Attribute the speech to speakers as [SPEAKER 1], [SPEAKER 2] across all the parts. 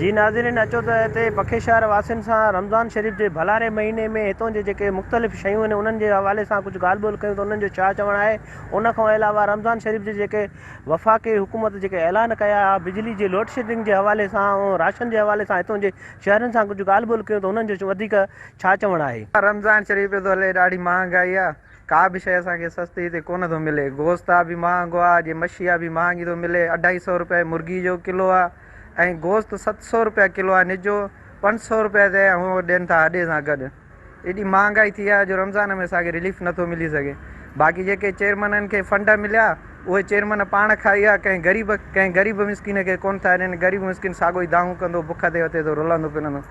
[SPEAKER 1] جي ناظرين اچو ته هتي بکي شهر واسين سان رمضان شريف جي ڀلاري مهيني ۾ هتون جي جيڪي مختلف شيون آهن انهن جي حوالي سان ڪجهه ڳالهه ٻولهه ڪيون ته انهن جو ڇا چوڻ آهي ان کان علاوه رمضان شريف جي جيڪي وفاقي حڪومت جيڪي اعلان ڪيا ها بجلي جي لوڊشيڊنگ جي حوالي سان راشن جي حوالي سان هتون جي شهرين سان ڪجهه ڳالهه ٻولهه ڪيون ته انهن جو وڌيڪ ڇا چوڻ آهي. رمضان شريف پيو ٿو هلي
[SPEAKER 2] ڏاڍي مهانگائي آ ڪا به شئي اسان کي سستي هتي ڪونه ٿو ملي گوشت آ به مهانگو آ جي مڇي آ به مهانگي ٿو ملي اڍائي سئو روپيه مرغي جو ڪلو آ ۽ گوشت ست سئو روپيه ڪلو آ نجو پنج سئو روپيه تي ۽ اهو ڏين ٿا اڏي سان گڏ ايڏي مهانگائي ٿي آ جو رمضان ۾ اسان کي رليف نه ٿو ملي سگهي باقي جيڪي چيئرمنن کي فنڊ مليا اهي چيئرمن پاڻ کائي آ ڪنهن غريب ڪنهن غريب مسڪين کي ڪونه ٿا ڏين غريب مسڪين ساڳو ئي دانهون ڪندو بک تي وتي ٿو رلندو پلندو.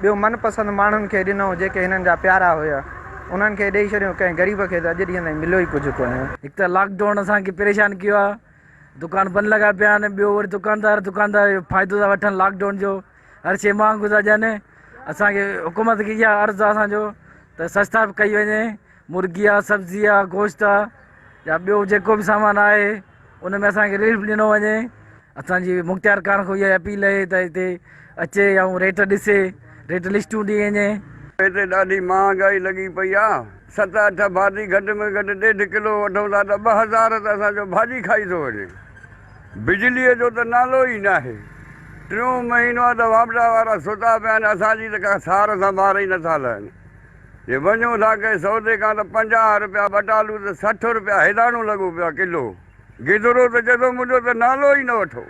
[SPEAKER 2] ٻيو من پسند ماڻهن کي ڏنو جيڪي هنن جا پيارا هيا انهن کي ڏئي ڇڏيو ڪنهن غريب کي ته اڄ ڏينهن تائين مليو ئي ڪجهه ڪونهي. هڪ ته لاڪ ڊائون
[SPEAKER 3] اسان کي پريشان ڪيو آهي دڪان بند لڳا پيا آهن ٻيو وري دڪاندار دڪاندار جو فائدو ٿا وٺن لاڪ ڊائون جو هر شي مهانگو ٿا ڏين اسان کي حڪومت کي اها عرض آهي اسان جو ته سستائپ ڪئي وڃي مرغي آ سبزي آ گوشت آ يا ٻيو جيڪو به سامان آهي ان ۾ اسان کي رليف ڏنو وڃي اسان جي مختيار خان کان اها اپيل اهي ته هتي اچي ۽ ريٽ ڏسي ريٽ لسٽون ڏئي وڃي. هتي ڏاڍي
[SPEAKER 4] مهانگائي لڳي پئي آ ست اٺ ڀاتي گهٽ ۾ گهٽ ڏيڍ ڪلو وٺون ٿا ته ٻه هزار ته اسان جو ڀاڄي کائي ٿو وڃي بجلي جو ته نالو ئي ناهي ٽيون مهينو آ ته واپڊا وارا ستا پيا آهن اسان جي ته ڪا سار سنڀار ئي نٿا لهن. جي وڃون ٿا ڪنهن سودي کان ته پنجاهه رپيا ٻٽالو ته سٺ رپيا هيڏاڻو لڳو پيو آهي ڪلو. گدرو ته چئي ٿو منهنجو ته نالو ئي نه وٺو.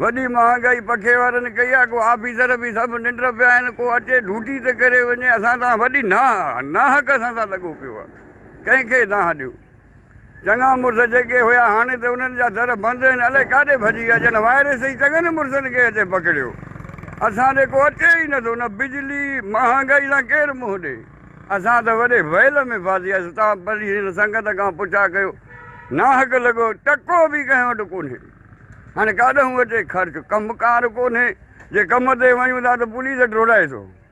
[SPEAKER 4] وڏي مهانگائي پکي وارن ڪئي آهي ڪو آفيسر به سڀ ننڊ پيا آهن ڪو اچي ڊوٽي ته ڪري وڃي اسان تان وڏي ناهه ناهه ڪسان سان لڳو پيو آهي ڪنهن کي ناهه ڏيون. چڱا مڙس جيڪي هيا هاڻي ته انهن جا در بند آهن الائي ڪاڏي ڀڄي ويا ڄڻ وائرس ئي چڱن مڙسن کي هتي پڪڙيو اسان ڏي ڪو اچي ئي نٿو نه بجلي مهانگائي سان ڪير منهن ڏي اسان ته وڏي ويل ۾ ڦاسياسين تان پري هن سنگت کان پڇا ڪيو ناحق لڳو ٽڪو به ڪنهن وٽ ڪونهي هاڻي ڪاڏهون اچي خرچ ڪم ڪار ڪونهي جي ڪم تي وڃون ٿا ته پوليس ڊوڙائي ٿو.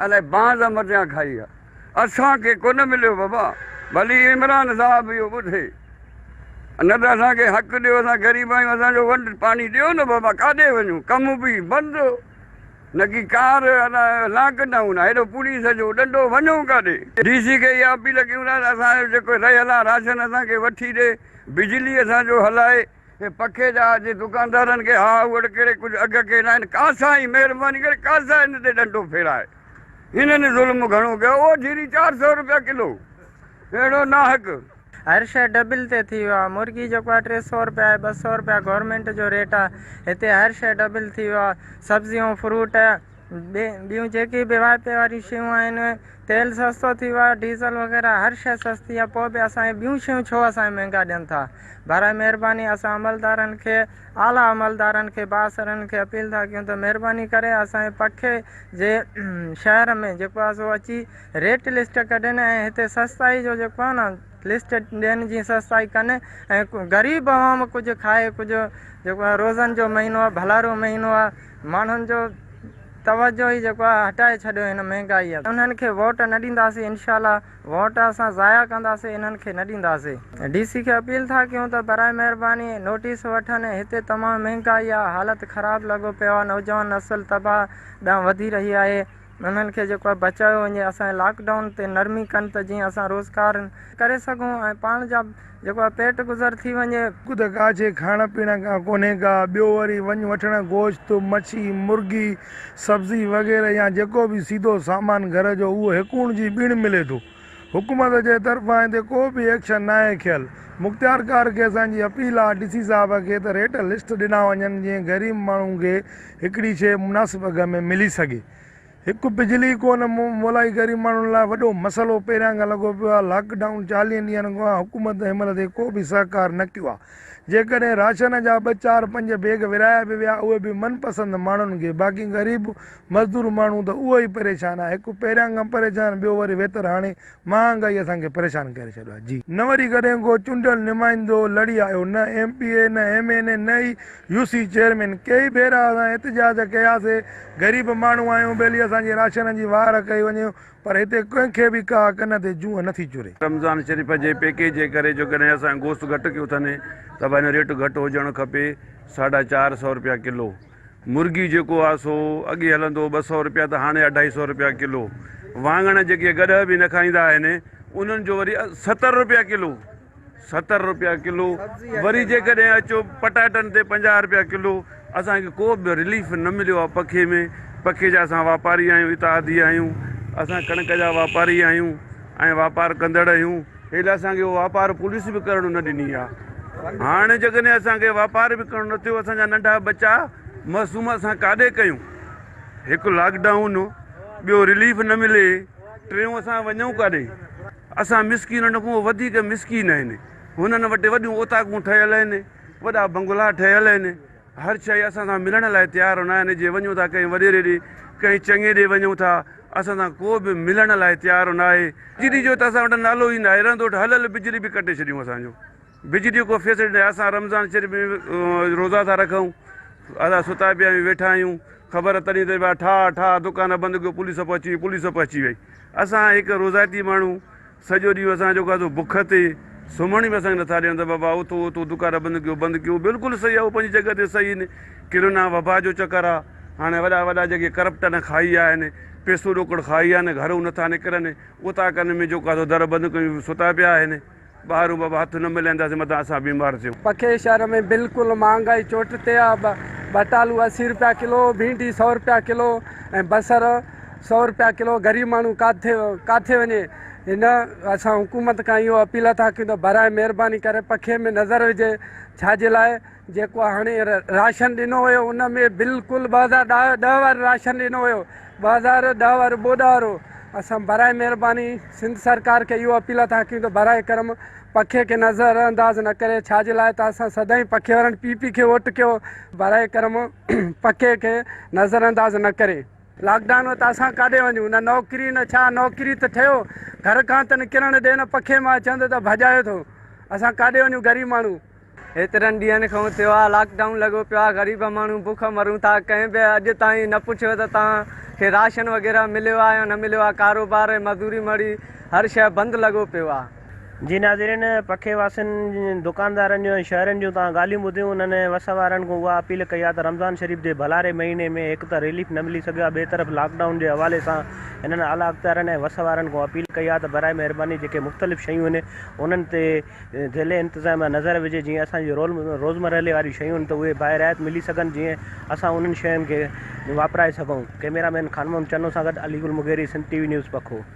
[SPEAKER 4] الائي بانز عمر جيان کائي آ. اسان کي ڪونه مليو بابا ڀلي عمران صاحب اهو ٻڌي نه ته اسان کي حق ڏيو اسان غريب آهيون اسان جو ونڊ پاڻي ڏيو نه بابا ڪاڏي وڃون ڪم به بند نڪي ڪار الا لاڪ ڊائون آ هيڏو پوليس جو ڏنڊو ونجون ڪاڏي. ڊي سي کي اها اپيل ڪيون ٿا ته اسان جو جيڪو رهيل آ راشن اسان کي وٺي ڏي بجلي اسان جو هلائي. هي پکي جا جي دڪاندارن کي ها هوڙ ڪري ڪجهه اگهه ڪيل آهن ڪا سائين مهرباني ڪري ڪا سائين هن تي ڏنڊو ڦيرائي هنن ظلم گهڻو ڪيو اهو جيري چار سئو روپيا ڪلو اهڙو ناحق هر شئي
[SPEAKER 5] ڊبل تي ٿي ويو آ مرغي جيڪو آ ٽي سئو روپيا آهي ٻه سئو روپيا گورمينٽ جو ريٽ آ هتي هر شئي ڊبل ٿي ويو آ سبزيون فروٽ. ٻيون جيڪي به واهپي واريون شيون آهن، تيل سستو ٿي ويو آهي، ڊيزل وغيره هر شيء سستي آهي، پوء به اسان کي ٻيون شيون ڇو اسان کي مهنگا ڏين ٿا؟ برائي مهرباني اسان عملدارن کي، اعليٰ عملدارن کي، بااثرن کي اپيل ٿا ڪيون ته مهرباني ڪري اسان جي پکي جي شهر ۾ جيڪو آهي سو اچي ريٽ لسٽ ڪڍين ۽ هتي سستائي جو جيڪو آهي نه لسٽ ڏين جي سستائي ڪن ۽ غريب عوام ڪجهه کائي ڪجهه جيڪو آهي روزن جو مهينو آهي ڀلارو مهينو آهي ماڻهن جو توجهه ئي جيڪو آهي هٽائي ڇڏيو هن مهنگائي انهن کي ووٽ نه ڏينداسين انشاء الله ووٽ اسان ضايع ڪنداسين انهن کي نه ڏينداسين ڊي سي کي اپيل ٿا ڪيون ته براء مهرباني نوٽيس وٺن هتي تمام مهنگائي آهي حالت خراب لڳو پيو آهي نوجوان نسل تباهه ڏانهن وڌي رهي آهي انهن کي جيڪو آهي بچايو وڃي اسان جي لاڪ ڊائون تي نرمي ڪن ته جيئن اسان روزگار ڪري سگهون ۽ پاڻ جا جيڪو آهي پيٽ گذر ٿي وڃي. هڪ ته ڪاڇي کائڻ
[SPEAKER 6] پيئڻ کان ڪونهي ڪا ٻيو وري وڃ وٺڻ گوشت، مڇي، مرغي، سبزي وغيره يا جيڪو به سيڌو سامان گهر جو اهو هڪوڻ جي ٻيڻ ملي ٿو. حڪومت جي طرفان هتي ڪو به ايڪشن ناهي کيل. مختيارڪار کي اسان جي اپيل آهي ڊي سي صاحب کي ته ريٽ لسٽ ڏنا وڃن جيئن غريب ماڻهو کي هڪڙي شيء مناسب اگهه ۾ ملي سگهي. هڪ بجلي ڪو نه مولائي غريب ماڻهن لاء وڏو مسئلو پهريان کان لڳو پيو آهي. لاڪ ڊائون چاليهن ڏينهن کان حڪومت ان عمل تي ڪو به سهڪار نه ڪيو آهي. جيڪڏهن راشن جا ٻه چار پنج بيگ ورهايا به ويا اهي به من پسند ماڻهن کي باقي غريب مزدور ماڻهو ته اهو ئي پريشان آهي هڪ پهريان کان پريشان ٻيو وري ويتر هاڻي مهانگائي اسان کي پريشان ڪري ڇڏيو آهي جي نه وري ڪڏهن ڪو چونڊيل نمائندو لڙي آيو نه ايم پي اي نه ايم اين اي نه ئي يو سي چيئرمين ڪيئي ڀيرا اسان احتجاج ڪياسي غريب ماڻهو آهيون ڀلي اسان جي راشن جي واهر ڪئي وڃي پر هتي ڪنهن کي به ڪا ڪن تي جونء نٿي چري. رمضان شريف جي
[SPEAKER 4] پيڪيج جي ڪري جو ڪڏهن اسان گوشت گهٽ ڪيو اٿن ته ڀائي هن ريٽ گهٽ هجڻ کپي ساڍا چار سئو روپيا ڪلو. مرغيون جيڪو آ سو اڳي هلندو ٻه سئو رپيا ته هاڻي اڍائي سئو رپيا ڪلو. وانگڻ جيڪي اڳ ڏهه به نه کائيندا آهن انهن جو وري ستر رپيا ڪلو ستر رپيا ڪلو وري جيڪڏهن اچو پٽاٽن تي پنجاهه رپيا ڪلو اسان کي ڪو به رليف نه مليو آ پکي ۾ پکي جا اسان واپاري آهيون اتحادي آهيون اسان ڪڻڪ جا واپاري آهيون ۽ واپار ڪندڙ اهيون. پهرين اسان کي واپار پوليس به ڪرڻ نه ڏني آ هاڻي جيڪڏهن اسان کي واپار به ڪرڻ نه ٿيو اسان جا ننڍا ٻچا معصوم اسان ڪاڏي ڪيون هڪ لاڪ ڊائون ٻيو رليف نه ملي ٽيون اسان وڃون ڪاڏي اسان مسڪينن کان وڌيڪ مسڪين آهن هنن وٽ وڏيون اوطاقون ٺهيل آهن وڏا بنگلا ٺهيل آهن هر شيء اسان سان ملڻ لاء تيار هوندا آهن جي وڃون ٿا ڪنهن وڏيري ڏي ڪنهن چڱي ڏي وڃون ٿا اسان سان ڪو به ملڻ لاء تيار هو ناهي بجلي جو ته اسان وٽ نالو ئي ناهي رند وٽ هل هل بجلي به ڪٽي ڇڏيون اسان جو بجلي جو ڪو فيسلٽي ناهي اسان رمضان شريف ۾ روزا ٿا رکون اسان ستا پيا آهيون ويٺا آهيون خبر تڏهن ته ٺاهه ٺاهه دڪان بند ڪيو پوليس به اچي وئي پوليس به اچي وئي اسان هڪ روزائتي ماڻهو سڄو ڏينهن اسان جيڪو آهي سو بک تي سمهڻ به اسان کي نٿا ڏين ته بابا اٿو اٿو دڪان بند ڪيو بند ڪيو بلڪل صحيح اهو پنهنجي جڳهه تي صحيح آهن ڪرونا وبا جو چڪر آهي هاڻي وڏا وڏا جيڪي ڪرپٽن کائي آهن پيسو ڏوڪڙ کائي آهن گهرو نٿا نڪرن اتا ڪن ۾ جيڪو آهي در بند ڪيون ستا پيا آهن ٻاهرون بابا هٿ نه ملائينداسين متان اسان بيمار ٿيون. پکي شهر ۾
[SPEAKER 7] بلڪل مهانگائي چوٽ تي آهي ٻٽالو اسي روپيا ڪلو ڀينڊي سؤ روپيا ڪلو ۽ بصر سؤ رپيا ڪلو غريب ماڻهو ڪاٿي ڪاٿي وڃي هن اسان حڪومت کان اهو اپيل ٿا ڪيون ته براء مهرباني ڪري پکي ۾ نظر وجهي ڇاجي لاء جيڪو هاڻي راشن ڏنو ويو ان ۾ بلڪل ٻه هزار ڏهه ڏهه وارو راشن ڏنو ويو ٻه هزار ڏهه وارو ٻوڏ وارو اسان براء مهرباني سنڌ سرڪار کي اهو اپيل ٿا ڪيون ته براء کرم پکي کي نظر انداز نه ڪري ڇاجي لاء ته اسان سدائين پکي وارن پي پي کي ووٽ ڪيو براء کرم پکي کي نظر انداز نه ڪري لاڪ ڊائون ۾ ته اسان ڪاڏي وڃون نه نوڪري نه ڇا نوڪري ته ٺهيو گهر کان ته نڪرڻ ڏي نه پکي مان چوندو ته ڀڄايو ٿو اسان ڪاڏي وڃون غريب ماڻهو. هيترن ڏينهن
[SPEAKER 5] کان ٿيو آهي لاڪ ڊائون لڳو پيو آهي غريب ماڻهو بک مرون ٿا ڪنهن به اڄ تائين نه پڇيو ته توهان کي راشن وغيره مليو آهي يا نه مليو آهي ڪاروبار ۽ مزوري مڙئي هر شيء بند لڳو پيو آهي. جي ناظرين
[SPEAKER 1] پکي واسين دڪاندارن جون ۽ شهرين جون توهان ڳالهيون ٻڌيون انهن ۽ وس وارن کون اها اپيل ڪئي آهي ته رمضان شريف جي ڀلاري مهيني ۾ هڪ ته ريليف نه ملي سگهيو آهي ٻئي طرف لاڪ ڊائون جي حوالي سان انهن اعليٰ اختيارين ۽ وس وارن کون اپيل ڪئي آهي ته برائي مهرباني جيڪي مختلف شيون آهن انهن تي ذيل انتظاميا نظر وجهي جيئن اسان جي روزمرهلي واريون شيون آهن ته اهي باهه رعايت ملي سگهن جيئن اسان انهن شين کي واپرائي سگهون ڪئميرا مين خانمحمد چنو سان گڏ علي گل مغيري سنڌ ٽي وي نيوز پکو.